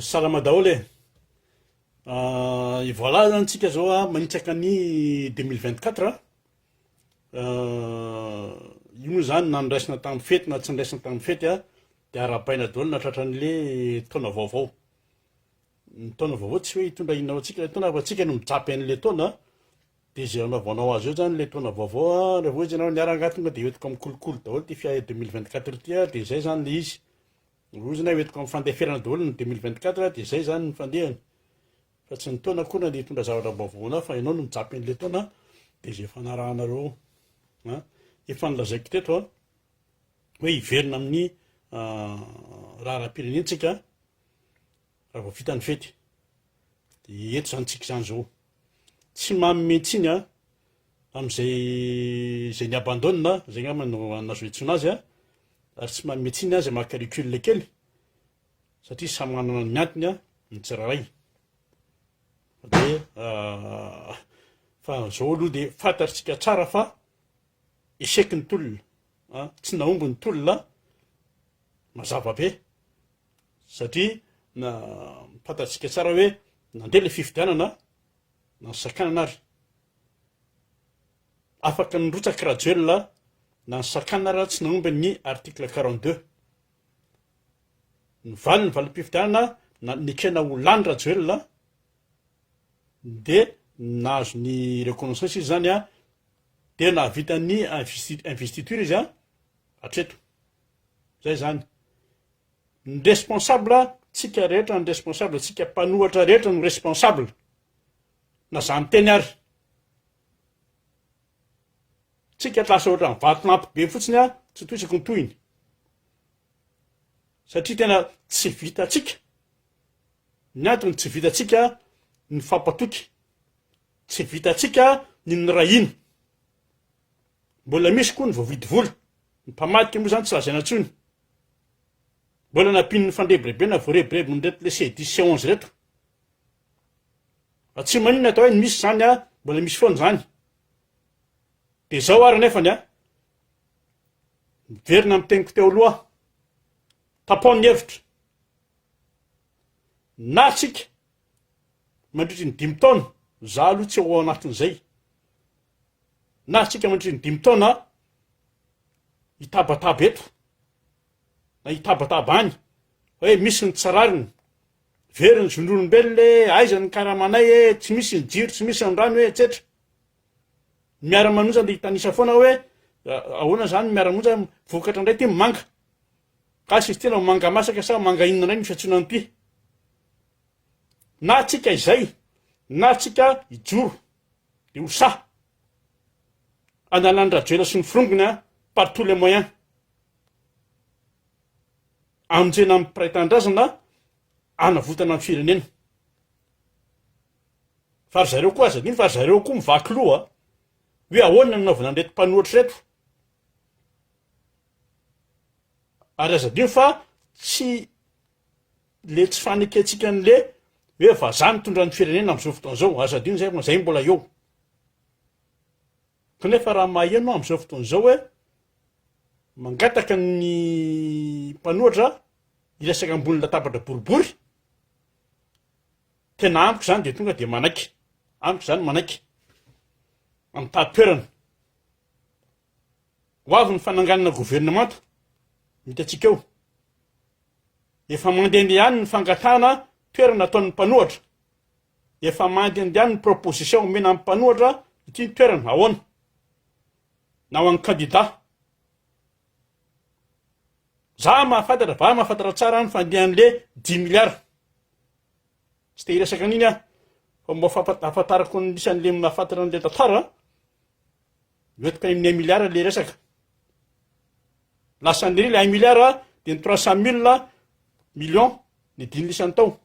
Salama daholo e! Et voilà zany tsika zao a manitsaka ny deux mille vingt quatre a, io moa zany na niraisina tamin'ny fety na tsy niraisina tamin'ny fety a de arahabaina daholo na tratran'le taona vaovao, ny taona vaovao tsy hoe hitondra inona ho antsika le taona fa tsika no mijapy an'le taona de ze anaovanao azy eo zany le taona vaovao a, raha vao izy ianao niara angaha tonga de hoentiko amin'ny kolikoly daholo ty fiahy deux mille vingt quatre ty a de zay zany le izy. Rohozina io eto ka fandeferana daholo ny deux mille vingt quatre dia zay zany ny fandehany fa tsy ny taona akory na dia hitondra zavatra vaovao anao fa ianao no mijapy an'ilay taona dia zay fanarahanareo an efa nilazaiko teto an hoe hiverina amin'ny raharaha-pirenentsika Raha vao vita ny fety dia eto izany tsika izany izao. Tsy manome tsiny a, amin'izay izay ni-abandonne a, izay angamba no azo iantsoana azy a, ary tsy manome tsiny a izay maka recul kely satria samy manana ny antony a, ny tsirairay. Dia fa izao aloha dia fantatr'tsika tsara fa échec ny tolona a, tsy nahomby ny tolona a, mazava be. satria na fantatsika tsara hoe nandeha ilay fifidianana na ny sakanana ary afaka nirotsaka Rajoelina na ny sakanana ary tsy nahomby ny article 42 ny valiny valim-pifidianana na nekena ho lany Rajoelina dia nahazo ny reconnaissance izy zany a dia nahavita ny investiture izy a hatreto zay zany Ny responsable tsika rehetra ny responsable tsika mpanohatra rehetra no responsable na za miteny ary tsika tsy lasa ohatran'ny vatolampy be fotsiny a tsy toisako ny tohiny satria tena tsy vitatsika ny antony tsy vitatsika ny fampatoky tsy vitatsika ny nirahina Mbola misy koa ny voavidy vola. Ny mpamadika moa izany tsy lazaina intsony. Mbola nampian'ny fandrebirebena voarebireby nireto le ces dix, ces onze reto. Fa tsy maninona atao hoe ny misy izany a, mbola misy foana izany. Dia izao ary anefany a, miverina amin'ny teniko teo aloha, tapao ny hevitra. Na tsika mandritry ny dimy taona, za aloha tsy ao anatin'izay. Nahazotsika mandritry ny dimy taona hitabataba eto na hitabataba any hoe misy ny tsy rariny, very ny zon'olombelona e, aiza ny karamanay e, tsy misy ny jiro, tsy misy ny rano e, etsetra. Ny miara-manonja dia hitanisa foana hoe ahoana izany ny miara-monja, vokatra indray ity ny manga. Gasy izy ity na manga masaka sa manga inona indray no fiantsoana an'ity. Na antsika izay, na antsika hijoro. Dia ho sahy analan'i Rajoela sy ny frongony par tous les moyens hamonjena ny mpiray tanindrazana hanavotana ny firenena. Fa ry zareo koa aza adino fa ry zareo koa mivaky loha hoe ahoana ny naovana an'ireto mpanohatra ireto. Ary aza adino fa tsy le tsy fanekentsika ny le hoe vazaha mitondra ny firenena amzao fotoana zao aza adino zay fa zay mbola eo kanefa raha maheno amzao fotoana zao hoe mangataka ny mpanohatra hiresaka ambony latabatra boribory tena amiko zany de tonga de manaiky amiko zany manaiky amtahatoerana Ho avy ny fananganana governemanta, ny hitantsika eo. Efa mandehandeha ihany ny fangatahana toerana ataon'ny mpanohatra. Efa mandehandeha ihany ny proposition omena amin'ny mpanohatra ity ny toerana, ahoana? Na ho an'ny kandida. Za mahafantatra, va mahafantatra tsara ny fandehan'le dimy milliards. Tsy te hiresaka an'iny aho fa mba hahafantarako ny isan'ny lemona hahafantarana an'ilay tantara, miotika amin'ny un milliard ilay resaka. Lasan'ny iry ilay un milliard dia ny trois cent mille millions ny dimy isan'ny tao.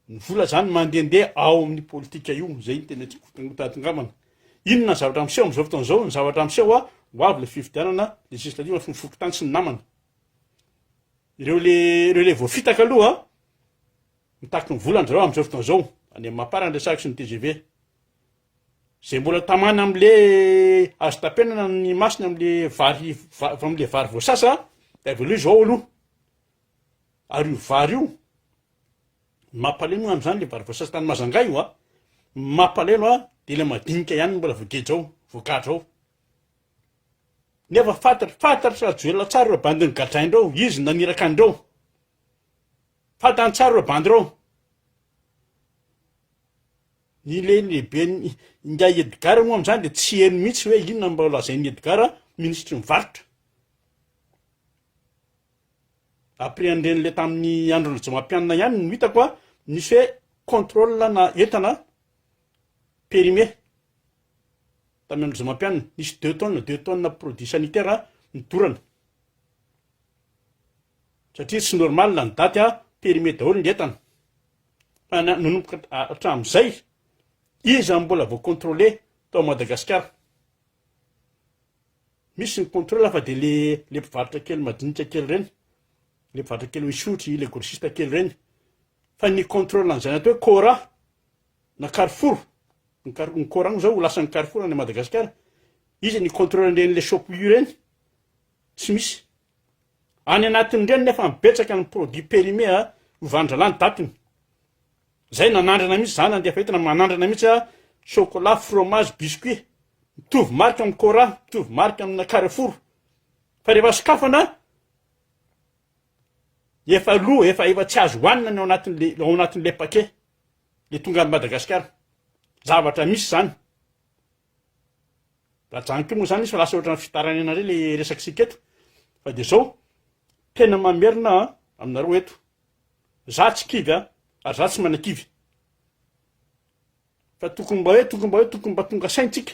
Ny vola izany mandehandeha ao amin'ny politika io, izay ny tena tiako tadinkambana. Inona ny zavatra miseho amin'izao fotoana izao? Ny zavatra miseho ho avy ilay fifidianana legislative sy ny fokontany sy ny namany. Ireo le ireo le voafitaka aloha an! Mitaky ny volany zareo amin'izao fotoana izao, any amin'ny Mapar ny resaka sy ny tgv. Izay mbola tamana amin'le azo tapenana ny masony amin'le vary va- amin'le vary voasasa dia avelao izy ao aloha. Ary io vary io, ny mampalemy angamba izany le vary voasasa tany Majanga io an! Ny mampalelo an, dia ilay madinika ihany no mbola voageja ao, voagadra ao. Nefa fantatra fantatra rajoelina tsara ireo bandy nogadrainreo izy naniraka anreo fantany tsara ireo bandy ireo ny le lehibe ingahy edgara moa amizany de tsy heno mihitsy hoe inona mba lazain'ny edgara minisitry ny varotra après an'ireny le tamin'ny andro rajomampianina ihany no hitako a nisy hoe contrôle na entana périmé Tany amin'ny zomam-pianina, nisy deux tonnes, deux tonnes produits sanitaires nidorana. Satria tsy normal ny daty a, périmé daholo ny entana. Fa na- nanomboka ha- hatramin'izay, iza no mbola voa contrôlé tao Madagasikara? Misy ny contrôle fa dia le le mpivarotra kely madinika kely ireny, le mpivarotra kely misotry, le grossiste kely ireny. Fa ny contrôle an'izay natao hoe cora, na carrefour, ny car- ny coran zao ho lasan'ny carrefour any Madagasikara, iza ny contrôle an'ireny shop u ireny? tsy misy, any anatin'ireny nefa betsaka ny produit périmé a, lovandralahy ny datiny, zay nanandrana mihitsy za nandeha fahita na manandrana mihitsy a, chocolat, fromage, biscuit, mitovy marika amin'ny coran, mitovy marika amina carrefour, fa rehefa sokafana efa lo, efa efa tsy azo hohanina ny ao anatin'le ao anatin'le paquet. le tonga any Madagascar zavatra misy zany raha zany ko moa zany izy fa lasa ohatran'ny fitarainana indray le resakisika eto fa de zao tena mamerina an aminareo eto za tsy kivy an ary za tsy manakivy fa tokony mba hoe tokony mba hoe tokony mba tonga saintsika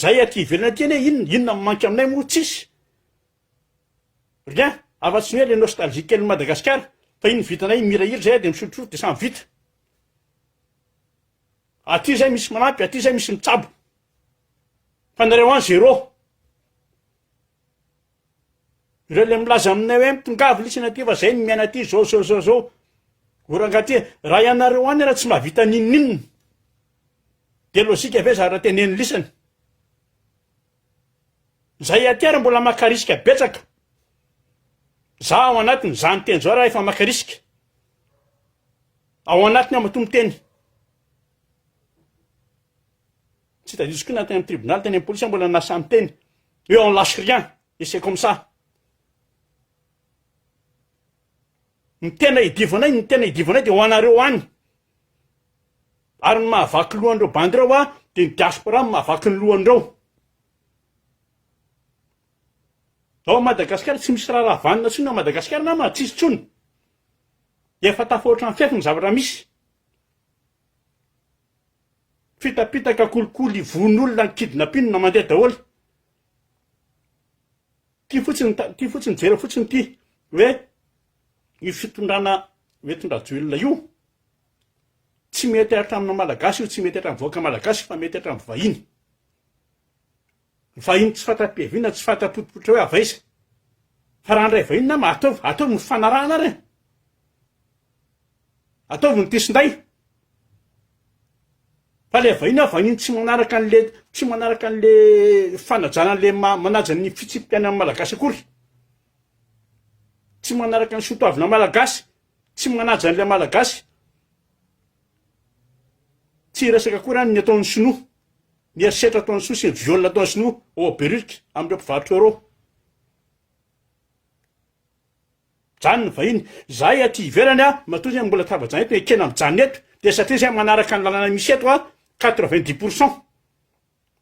Zay aty ivelany aty anie inona inona no manka aminay moa tsisy rien afa tsy ny hoe le nostalgie kelin'i Madagasikara fa iny vitanay iny mihirahira zay de misotrosotro de samy vita aty zay misy manampy aty zay misy mitsabo fa nareo any zéro ireo le milaza aminay hoe mitongavo lisany aty fa zay no miaina aty zao zao zao zao oranga aty raha ianareo any raha tsy mba vita n'inon'inona Dia lojika ve zara teneniny lisany? Zay aty ary mbola maka risque betsaka. Za ao anatiny, za miteny zao raha efa maka risque. Ao anatiny ao matoa miteny. Tsy tadidio koa na teny amin'ny tribunal, teny amin'ny police mbola nasa miteny. Eo on lâche rien. Et c'est comme ça. Ny tena hidivo anay, ny tena hidivo anay dia ho anareo any. Ary ny mahavaky lohan'ireo bandy ireo aho dia ny diaspora no mahavaky ny lohan'ireo. Ao Madagasikara tsy misy raharaha vanona intsony ao Madagasikara namana, tsisy intsony. Efa tafahoatra ny fefy ny zavatra misy. Fitapitaka, kolikoly, vono olona, kidnapping mandeha daholo. Ty fotsiny ty fotsiny jereo fotsiny ty hoe io fitondrana hoentin-dRajoelina io tsy mety hatramin'ny Malagasy io tsy mety hatramin'ny vahoaka Malagasy fa mety hatramin'ny vahiny. Vahiny tsy fatra-piaviana tsy fatra-potopotra hoe avy aiza. Fa raha handray vahiny nama ataovy ataovy ny fanarahana ary e. Ataovy ny tesinday. Fa le vahiny a vahiny tsy manaraka an'le tsy manaraka an'le fanajana an'le ma- manaja ny fitsipi-piainan'ny malagasy akory. Tsy manaraka ny soatoavina malagasy, tsy manaja an'le malagasy. Tsy hiresaka akory any ny ataon'ny sinoa, ny herisetra ataon'ny sinoa sy ny viol ataon'ny sinoa ao Beririka amin'ireo mpivarotra eo reo. Mijanona ny vahiny. Zahay aty ivelany a, matoa zay mbola tafajanona eto, ekena mijanona eto, dia satria zay manaraka ny lalana misy eto a, quatre vingt dix pour cent.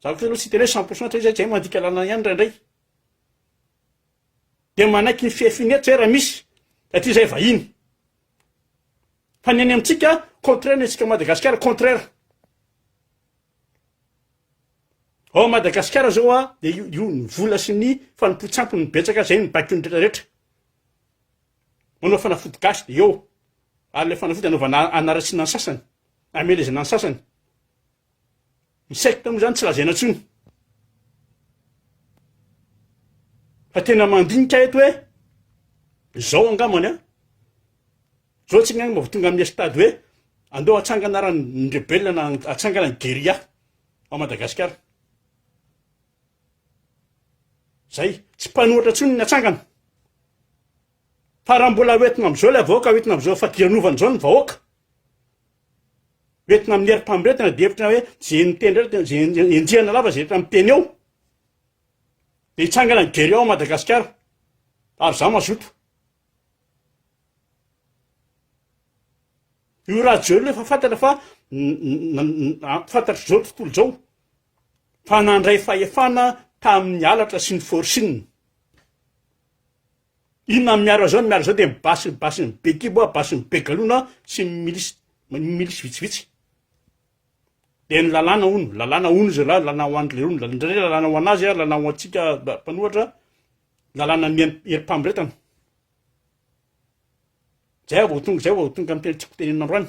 Za kosa aloha tsy hiteny hoe cent pour cent satria zay mandika lalana ihany indraindray. Dia manaiky ny fihafiny eto zay raha misy, satria zay vahiny. Fa ny any amintsika, contraire ny antsika Madagasikara, contraire. Ao Madagasikara zao a, de io io ny vola sy ny fanompoan-tsampy no betsaka zay no baiko ny rehetra rehetra, manao fanafody gasy de eo, ary le fanafody anaovana anaratsiana ny sasany, amelezana ny sasany, ny secte mo zany tsy lazaina tsony, fa tena mandinika eto hoe zao angambany an. Johnson angamba vao tonga amin'ny stade hoe andao hatsangana ara ny rebelle na hatsangana ny guerilla ao Madagasikara. Zay, tsy mpanohitra intsony ny atsangana. Fa raha mbola hoentina amin'izao ilay vahoaka, hoentina amin'izao fadiranovana izao ny vahoaka, hoentina amin'ny herim-pamoretana dia hevitra hoe izay miteny rehetra, izay enjehina lava izay rehetra miteny eo, dia hitsangana ny guerilla ao Madagasikara, ary izaho mazoto. Io Rajoel io efa fantatra fa fantatr'izao tontolo izao fa nandray fahefana tamin'ny halatra sy ny forcing. Inona ny miaro azy ao, ny miaro azy ao dia ny basy ny basy ny be kibo, basy ny be galona sy ny milisy milisy vitsivitsy. Dia ny lalàna hono, lalàna hono izy lahy, lalàna ho an'ireo hono, lalàna ho an'azy, lalàna ho antsika mpanohatra. lalàna ny herim-pamoretana. Zay vao tonga zay vao tonga ny teny tiako tenenina androany.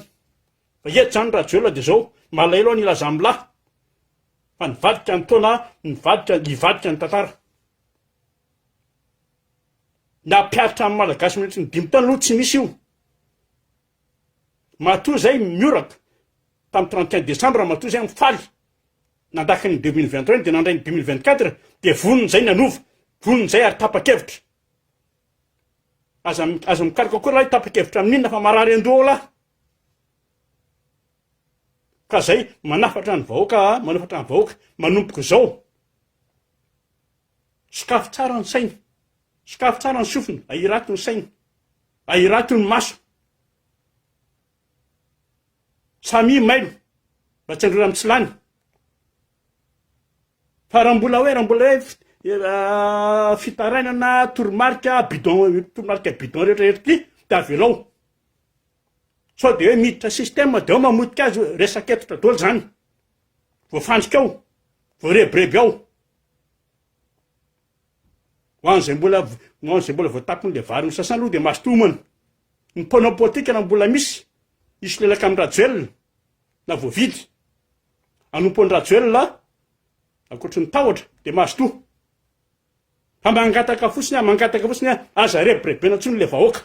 Fa eto zany Rajoelina dia zao, malahelo ny Razamlahy fa nivadika ny taona, nivadika hivadika ny tantara. Nampiaritra ny Malagasy mandritra ny dimy taona aloha tsy misy io. Matoa zay mihoraka tam trente et un décembre matoa zay am faly nandraka ny deux mille vingt et un de nandray ny deux mille vingt quatre de vonony zay ny hanova vonony zay ary tapakevitra aza aza mikaroka koa lahy tapakevitra amin inona fa marary andoha ao lahy ka zay manafatra ny vahoaka a manafatra ny vahoaka manompoko zao sokafo tsara ny sainy sokafo tsara ny sofina ahirato ny sainy Ahirato ny maso. Samia mailo mba tsy handrora amin'ny tsy lany. Fa raha mbola hoe, raha mbola hoe fitarainana toromarika bidon, toromarika bidon rehetra eto ty, dia avelao. Sao dia hoe miditra système dia ao mamotika azy, resaka hentitra daholo zany. Voafandrika ao, voarebireby ao. Ho an'izay mbola ho an'izay mbola vao tapony le vary nosasana aloha dia mazotoa homana. Ny mpanao politika raha mbola misy hisolelaka amin'i Rajoelina na voavidy hanompo an'i Rajoelina ankoatry ny tahotra dia mazotoa. Fa mangataka fotsiny aho, mangataka fotsiny aho, aza rebirebena intsony le vahoaka.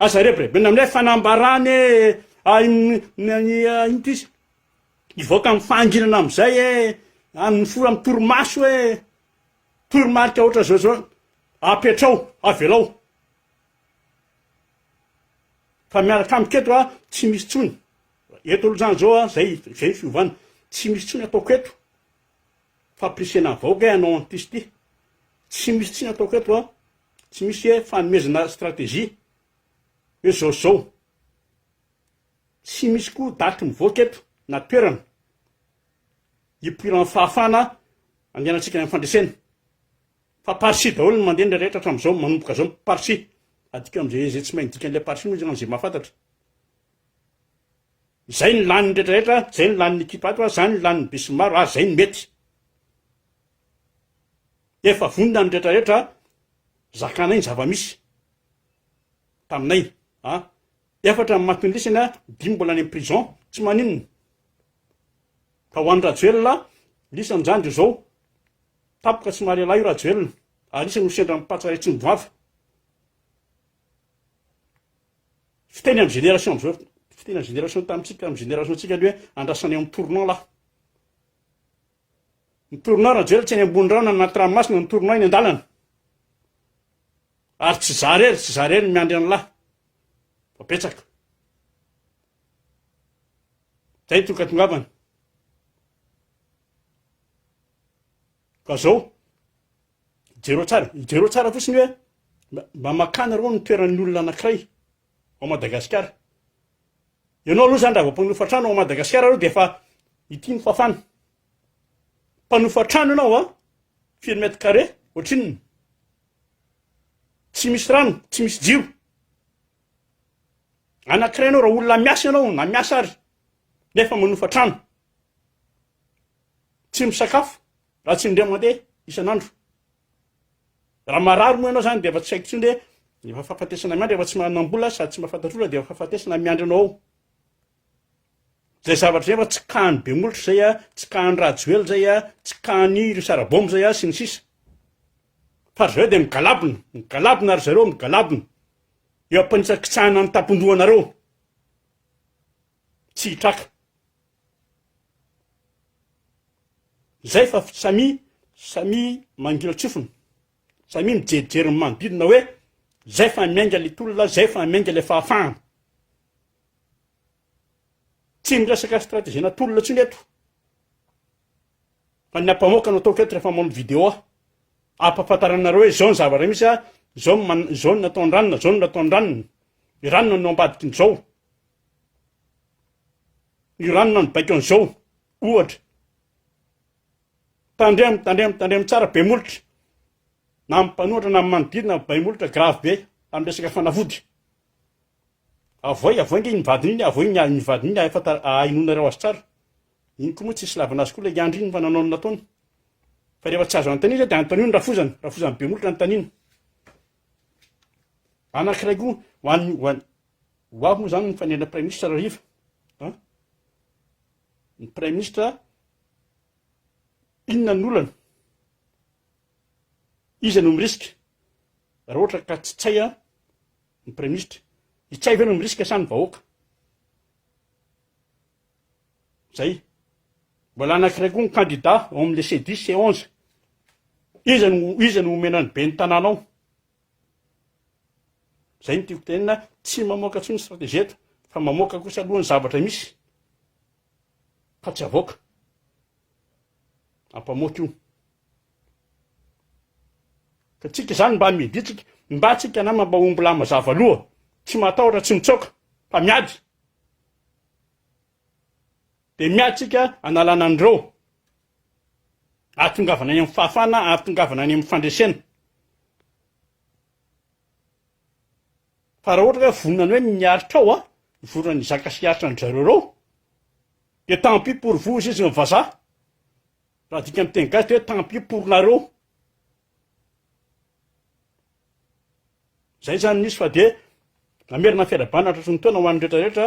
Aza rebirebena amin'ilay fanambarana hoe ah, in- in- in- ah, inona izy? Hivoaka amin'ny fahanginana amin'izay e! Amin'ny fora amin'ny torimaso e! Toromarika ohatran'izao izao, apetrao, avelao fa miaraka amiko eto a, tsy misy intsony, eto aloha izany izao a, izay, izay ny fiovana, tsy misy intsony ataoko eto, fampirisihana ny vahoaka hoe hanao an'ity sy ity, tsy misy intsony ataoko eto a, tsy misy hoe fanomezana stratégie hoe izao sy izao. Tsy misy koa daty mivoaka eto na toerana hipoiran'ny fahafahana andehanantsika any amin'ny fandresena. Fa par ci daholo ny mandeha indray rehetra hatramin'izao, manomboka izao par ci. Adika amin'izay izay tsy mahay ny dikan'ilay par ci moa izany izay mahafantatra. Izay ny lanin'ny rehetra rehetra, izay ny lanin'ny ekipa ato, izany ny lanin'ny besinimaro ary izay ny mety. Efa vonona ny rehetra rehetra zakanay ny zava-misy taminay. Efatra ny matin'ny lisany a, dimy mbola any am prison, tsy maninona. Fa ho an'i Rajoelina, lisany zany de zao, tapoka tsy mahare lahy io Rajoelina, ary isany ho sendra am patsa retsin'ny goavy. Fiteny am génération amzao, fiteny am génération tamitsika, am génération tsika ny hoe andrasanay am tournant lahy. Ny torinao Rajoelina tsy any ambony rano na anaty ranomasina ny torinao eny an-dalana. Ary tsy za rery, tsy za rery ny miandry an'lah. Fa betsaka. Zay toka tongavana. Ka zao, jereo tsara, jereo tsara fotsiny hoe mba makana reo ny toeran'ny olona anakiray. ao Madagasikara. Ianao aloha zany raha vao mpanofatra trano ao Madagasikara aloha dia efa ity ny fafana. Mpanofatra trano ianao a, firy mètre carré, ohatrinona? Tsy misy rano, tsy misy jiro. Anankiray ianao raha olona miasa ianao na miasa ary nefa manofa trano. Tsy misakafo raha tsy indray mandeha isan'andro. Raha marary moa ianao zany dia efa tsy haiko intsony hoe efa fahafatesana miandry efa tsy manam-bola sady tsy mahafantatra olona dia efa fahafatesana miandry anao ao. Zay zavatra zay efa tsy kahan'i Bemolotra zay a, tsy kahan'i Rajoel zay a, tsy kahan'i ry Sarabao zay a sy ny sisa. Fa ry zareo dia migalabona, migalabona ry zareo, migalabona eo am-panitsakitsahana ny tampon-dohanareo. Tsy hitraka. Izay fa samia samia mangilan-tsofina, samia mijerijery ny manodidina hoe izay fa miainga ilay tolona, izay fa miainga ilay fahafahana. Tsy miresaka strategiena tolona intsony eto fa ny ampamoaka no ataoko eto rehefa manao vidéo aho, ampahafantarana anareo hoe izao ny zava-misy, izao izao no nataon-dRanona, izao no nataon-dRanona, i Ranona no ambadikin'izao. Ny ranona mibaiko an'izao ohatra. Tandremo, tandremo, tandremo tsara be molotra. Na amin'ny mpanohatra na amin'ny manodidina bay molotra grave be amin'ny resaka fanafody. Avoay, avoay nge iny vadiny iny, avoay ny iny vadiny iny efa ahenoanareo azy tsara. Iny koa moa tsy hisy lavana azy koa ilay andry iny fa nanao ny nataony. Fa rehefa tsy azo anontaniana dia anontanio ny rafozany, rafozany be molotra anontaniana. Anankiray koa ho an'ny ho an'ny Ho avy moa izany ny fanendrena praiminisitra Rahariva an? Ny praiminisitra inona ny olana? Iza no mirisika? Raha ohatra ka tsy tsay an ny praiminisitra, i tsay ve no mirisika sa ny vahoaka? Zay. Mbola anankiray koa ny kandida ao amin'ilay C10, C11. Iza no iza no omena ny ben'ny tanàna ao? Zay no tiako tenenina, tsy mamoaka intsony stratégie eto fa mamoaka kosa aloha ny zavatra misy fa tsy avoaka. Ampamoaka io. Ka tsika izany mba midi tsika, mba tsika nama mba omby lahy mazava loha, tsy matahotra tsy mitsaoka fa miady. Dia miady isika hanalana an'ireo hahatongavana any amin'ny fahafahana ary tongavana any amin'ny fandresena. Fa raha ohatra ka vonona ny hoe miaritra ao aho, vonona ny hizaka sy hiaritra an-dry zareo ireo, dia tant pis pour vous hoy izy amin'ny vazaha. Raha adika amin'ny teny gasy dia hoe tant pis pour nareo. Izay izany misy fa dia mamerina ny fiarahabana hatratry ny taona ho an'ny rehetra rehetra,